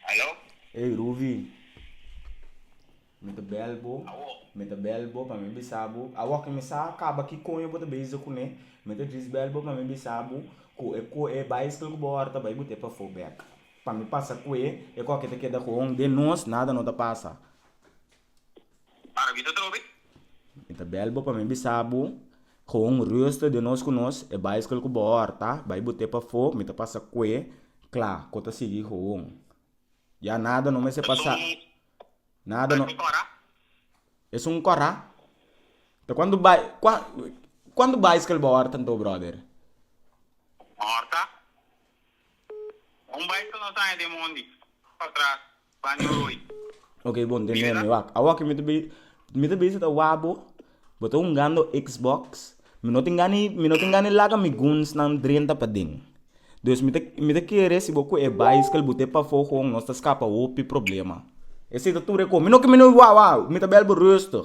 Aló? Ey Ruvi, mi ta bel bo, Awo? mi ta bel bo pa mi bisa bo, awo ki mi sa kaba ki koño bo ta beza kuné, mi ta djis bel bo pa mi bisa bo ku e ku e bicycle ku bo ora ta bai bo te pafó bek pa mi pasa kué, e koke ta keda koon den nos, nada no ta pasa. Para mi ta trobe. Mi ta bel bo pa mi bisa bo con rusto de nos cu nos e bicycle cu bo horta bay bo te pafo mi ta pasa cue cla cu ta sigui gewoon ya nada no mester pasa nada no esun cora ta cuando bay cuando bicycle bo horta anto brother horta un bicycle no ta aña den mondi pa tras Baño Rooi. Ok bon den meme wak awo ke mi ta bezi mi ta bezi ta wak bo bo ta hungando xbox mi no tin gani mi no tin gani laga mi gunsnan drenta paden dus mi ta mi ta kere si bo kue e bicycle bo te pafo kon nos ta skapa hopi problema ese ta tur e kon mi no ke mi no wak wak mi ta bel bo rustig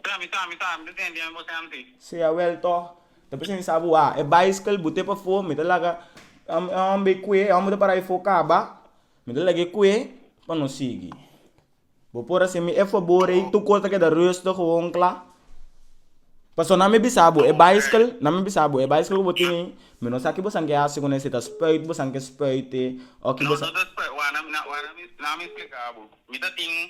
Tra mi sa, mi sa, mi ta siña bien bo senti. Si a wel tog, ta p'e siña sa bo a. E bicycle bot'é pafó, mi ta laga e hòmber kue, e hòmber ta para befo kaba, mi ta lag'é kue pa nos sigui. Bo por haci'mi e fabor ei, tur cos ta keda rustig gewoon cla. Pasobra nan mi bisa bo e bicycle, nan mi bisa bo e bicycle ku bo tin ei, mi no sa kibo san ke haci kuné, si ta spuit bo san ke spuit'é, o kibo san. No, no ta spuit, wak nan mi splika bo. Mi ta tin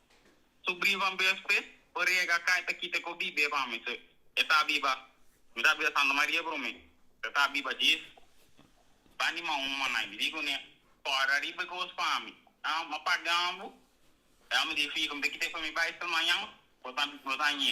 Su brivan BFC bo riega kai ta kita ko bibe pa mi so e ta biba mi ta bida Santa Maria bro mi ta ta biba djis ba ni mau manai mi di kune kore ariba e kos pa mi ah ma pagan bo ya mi di fico mi ta kita e pa mi bai sta mañan bo ta bo ta ñe.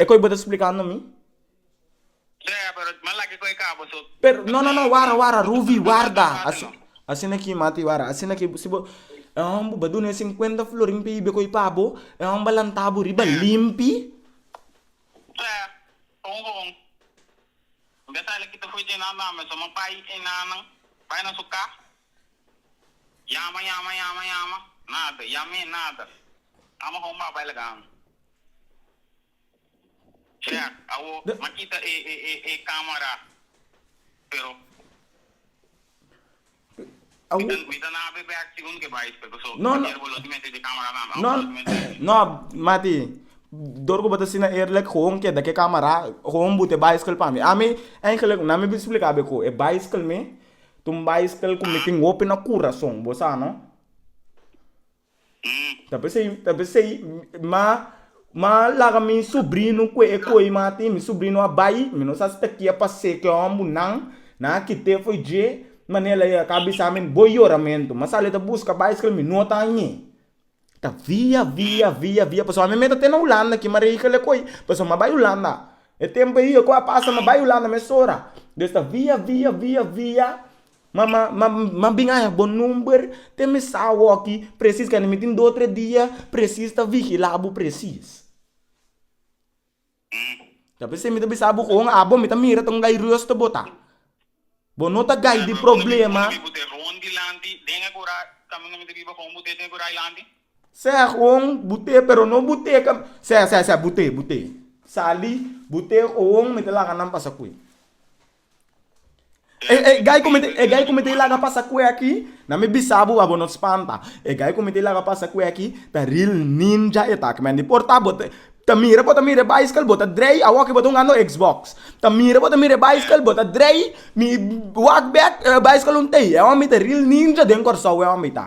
E koi bo ta splikando mi? Pero, no, no, no, wara, wara, Ruvi, warda! Asina ki, Mati, wara, asina ki, si bo, e hòmber bo ba duna e sinkuenta florin p'e yibe koi pa bo, e hòmber a lanta bo riba limpi. Reak, Awo m'a kita e e camera pero mi ta na be back si un ke bai espe paso ayer bo lo di mester di camera tambe awo bo lo di mester di espe. No mati, dor ku bo ta asina eerlijk hoon keda ke camera hoon but e bicycle pa mi. Ami eigenlijk nan mi bin spliká be ku e bicycle mi ta un bicycle ku mi tin hopi na kurason, bo sa no. Hm. Ta bes ei, ta bes ei, ma, ma laga mi subrino kue e koi ma tin, mi subrino a bai, mi no sa si ta kia pase ku e hombu nan, nan a kite foi dje, ma nel ei a ka bisa mi bo yoramento, ma sali ta buska bai skira mi no ta añe, ta via, via, via, via, pasobra mi meta te na hulanda aki, ma rehikla e koi, pasobra mi a bai hulanda, e tempu ei e koi a pasa mi a bai hulanda mes ora, des ta via, via, via, via, Ma, ma, ma, ma bin haña bo number, te mi sa awoki presis kende mi tin dos tres dia presis ta vigila bo presis. Ta p'esei mi ta bisa bo kon abo mi ta mira ta un gai rustu bo ta. Bo no ta gai di problema. Sea kon bo te pero no bo te ka, sea, sea, sea bo te, bo te. Sali, bo te kon mi ta laga nan pasa kue. E gai ku mi ta laga pasa kue aki, na mi bisa bo pa bo no spanta. E gai ku mi ta laga pasa kue aki ta ril ninja e ta. Kiemen di por ta? Bo ta mira, bo ta mira e bicycle, bo ta drei, awor ki bo ta un hando xbox. Ta mira, bo ta mira e bicycle, bo ta drei, mi wak bek, e bicycle un tei. E hòmber ta ril ninja den kòrsou e hòmber ta.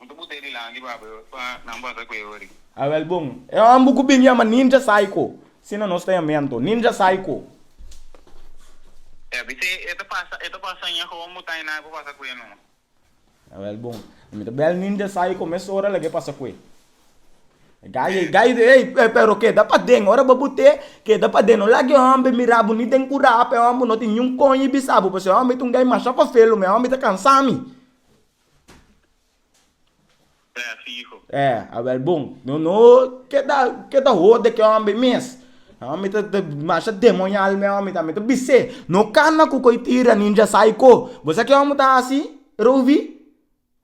Bo ta buta e Dylan di baba yo pa nan basa ku e ori. A wel bon. E homber ku bin yama Ninja Psycho. Sin a nos ta yama anto. Ninja Psycho. Ya bis'é e ta pasa e ta pasa ña hoon bo ta inai pa basa ku e no. A wel bon. Mi ta bel Ninja Psycho mes ora laga e pasa ku e. Guy e guy di ey pero keda paden ora bo but'é keda paden no laga e homber mira bo ni den kura pa e homber no tin niun koño e bisa bo pues e homber ta un guy masha fafelu mi e homber ta kansa mi. E, awel bon. No, no, ke ta, ke ta hode ke hòmber mes. E hòmber ta, ta masha demonial mi e hòmber ta. Mi ta bis'é, no kana ku ko'i tira ninja psycho. Bo sa ke hòmber ta hasi, Ruvi?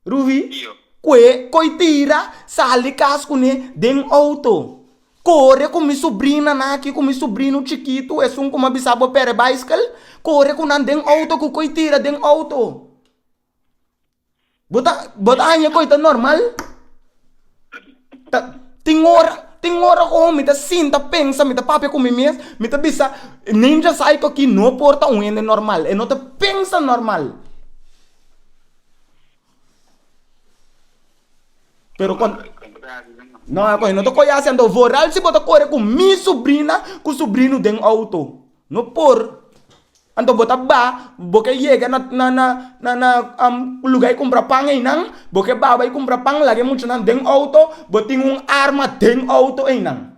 Ruvi? Ku'é ko'i tira, sali kas kuné den outo. Kore ku mi subrinanan aki, ku mi subrino chikitu, esun ku mi a bisa bo pere bicycle, kore ku nan den outo ku ko'i tira den outo. Bo ta bo ta haña ku e ta normal? Ta tin ora tin ora ku mi ta sinta pensa mi ta papia ku mi mes mi ta bisa neim sa sa eto aki no por ta un hende normal e no ta pensa normal pero kuan no e no ta koyasa anto vooral si bo ta kore ku mi subrina ku subrino den outo. No por. Anto bo ta ba, bo ke yega na na na na na am luga e kumpra pan einan, bo ke ba bai kumpra pan laga e muchanan den outo, bo tin un arma den outo einan.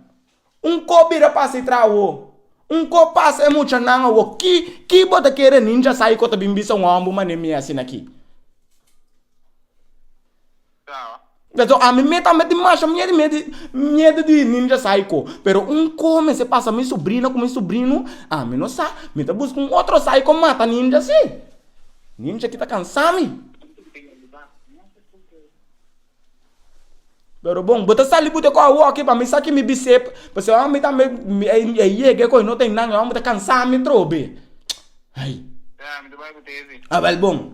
Un ko bira pasa e trahowo, un ko pasa e muchanan awo, ki ki bo ta kere ninja sai ko ta bin bisa un hòmber mané mi asina ki? Beso ami me tambe tin masha miedu miedu miedu di ninja saiko pero un kos mester pasa mi subrina ku mi subrino ami no sa mi ta buska un otro saiko mata ninja si ninja kita kansa mi pero bon bo ta sali bo ta koa woki pa mi sa kimi bise paske ora mi tambe e yega e kos no tin nan mi ta kansa mi trobe a wel bon.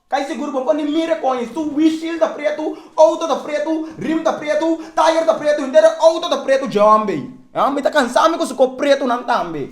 Kai sigur bo pone mire koñes su wishil ta pretu, outo ta pretu, rim ta pretu, tayer ta pretu, henter e outo ta pretu dje hombe. E hombe ta kansa mi ku su kop pretunan tambe.